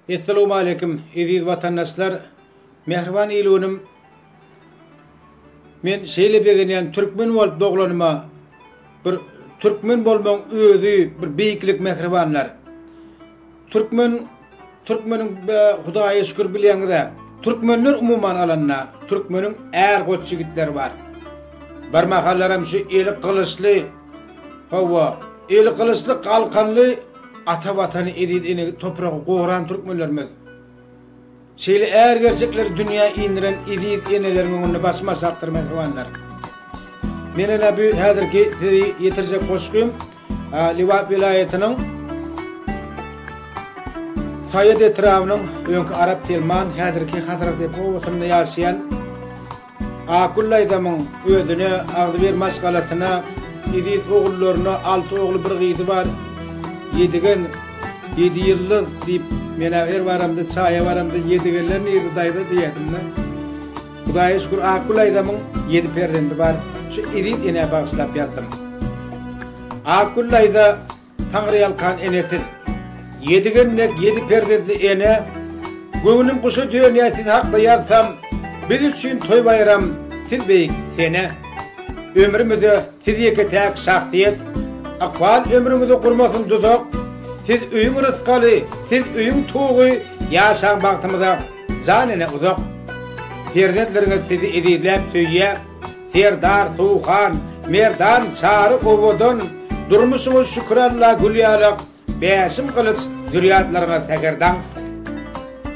Essalowmaleýkim, eziz watandaşlar, mähriban il-günüm! Men şeýle begenýän türkmen bolup doglanyma, bir türkmen bolmagyň özi bir beýiklik mähribanlar. Türkmen türkmeniň Hudaýa şükür bilýäňiz-ä. Türkmenler umuman alanda, türkmeniň är goç ýigitleri bar. Bir mahallaram şu eli gylyçly, hawa, eli gylyçly galkanly Ata Watany, eziz ene topragy goran türkmenlerimiz şeýle äri gerçekleri dünýä indiren eziz eneleriň öňünde başym aşakdyr mähribanlar. Men ene bu häzirki sizi ýetirjek goşgym Lebap welaýatynyň Saýat etrabynyň öňki Arap Telman, häzirki Hazratepe obasyna ýaşaýan Akgül daýzamyň özüne agzybir maşgalasyna eziz ogullaryna alty ogly bir gyzy bar. Ýedigen, ýedi ýyldyz diýip men-ä her baramda çaýa baramda Ýedigenler nirde daýza diýerdim-de. Hudaýa şükür Akgül daýzamyň ýedi perzendi bar. Şu eziz enä bagyşlap ýazdym. Akgül daýza Taňryýalkan enesiz. Ýedi gelnek, ýedi perzentli ene, Göwnüm guşa dönýär siz hakda ýazsam, Biz üçin toý-baýram, siz beýik sene. Ömrümize siz ýeke-täk şahsyýet, Ykbal ömrüňizi gurmasyn duzak, Siz öýüň rysgaly, siz öýüň tugy, Ýaşaň bagtymyza, jan ene uzak. Perzentleriňiz sizi ezizläp söýýär. Serdar Sowhan Merdan Çary owadan durmuşyňyz şükür Alla Gülýalak Bäşim Gylyç zürýatlaryňyz Säherdaň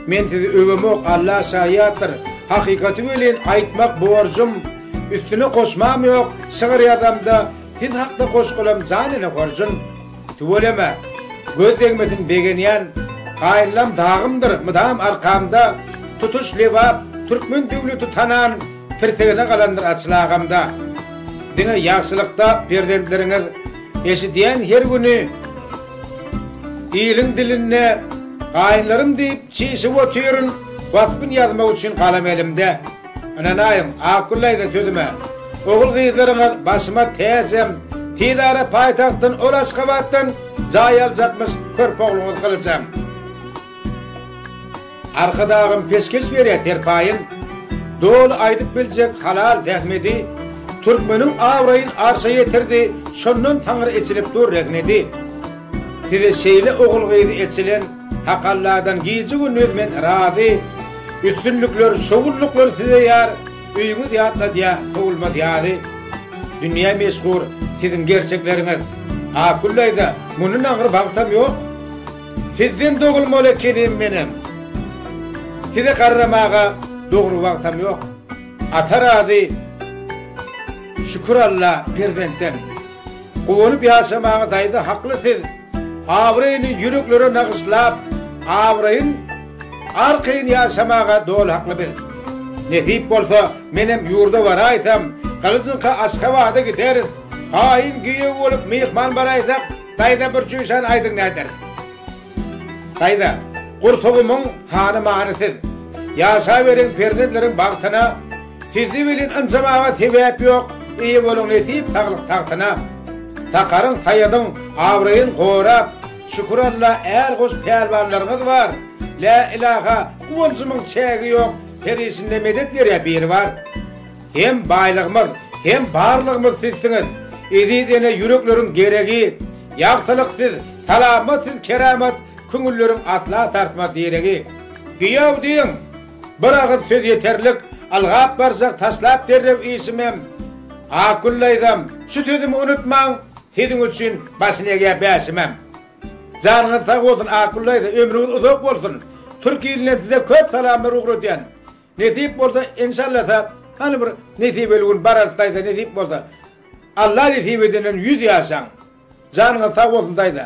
Men sizi öwemok Alla şaýatdyr hakykaty welin aýtmak borjum üstüne goşmam ýok şygyr ýazamda siz hakda goşgulam jan ene horjun. Tüweleme, göz degmesin begenýän Gaýynlam dagymdyr mydam arkamda Tutuş Lebap, türkmen döwleti tanan Tirsegine galandyr açyl agamda Diňe ýagşylykda perzentleriňiz Eşidýän her güni iliň dilinde Gaýynlarym diýip çişip otyryn Waspyn ýazmak üçin galam elimde. Ynanaýyň, Akgül daýza sözüme. Ogul-gyzlaryňyz başyma täjem. Tiz ara paýtagtdan, ol Aşgabatdan jaý aljakmyş körpe ogluňyz Gylyjam. Arkadagym peşgeş berýär serpaýyn. Doly aýdyp biljek halal zähmedi. Türkmeniň abraýyn arşa ýetirdi, şondan Taňry eçilip dur rehnedi. Size şeýle ogul-gyzy eçilen. Takalladan gije gündiz men razy Üstünlikler şowunlyklar size ýar Öýüňiz ýatladýa sowulmaz ýazy Dünýä meşhur siziň gerçekleriňiz Akullaýda mundan agyr bagtam ýok Sizden dogulmaly ekenim menem Size garramaga dogry wagtam ýok Ata razy Şükür Alla perzentden Guwanyp ýaşamaň daýza hakly siz Abraýyny ýüreklere nagyşlap Abraýyn arkaýyn ýaşamaga doly hakly biz Nesip bolsa menem ýurda baraýsam Gylyjyňka Aşgabada gideris Haýyn giýew bolup myhman baraýsak Daýza bir çüýşän aýdyň näderis. Saýda, gursagymyň hany many siz, Ýaşaberiň perzentleriň bagtyna, Sizi welin ynjamaga sebäp ýok, Eýe boluň nesip saglyk tagtyna. Sakaryň, Saýadyň abraýyn gorap, Şükür Alla är-goş pälwanlaryňyz bar, Lä ilaha, guwanjymyň çägi ýok, Her işinde medet berýä Biribar. Hem baýlygymyz, hem barlygymyz sizsiňiz, Eziz ene ýürekleriň geregi, Ýagtylyk siz, salamat siz keramat, Köňülleriň asla sarsmaz diregi. Giýew diýiň! Bir agyz söz ýeterlik, Ylgap barjak taşlap derrew işimem. Akgül daýzam, şu sözümi unutmaň, Siziň üçin başyny egýär bäşimem. Janyňyz sag bolsun Akgül daýza ömrüňiz uzak bolsun. Türk ilinden size köp salamlar ugradýan. Nesip bolsa enşallasa hany bir nesibeli gün bararys daýza nesip bolsa Alla nesip edenden ýüz ýaşaň janyňyz sag bolsun daýza.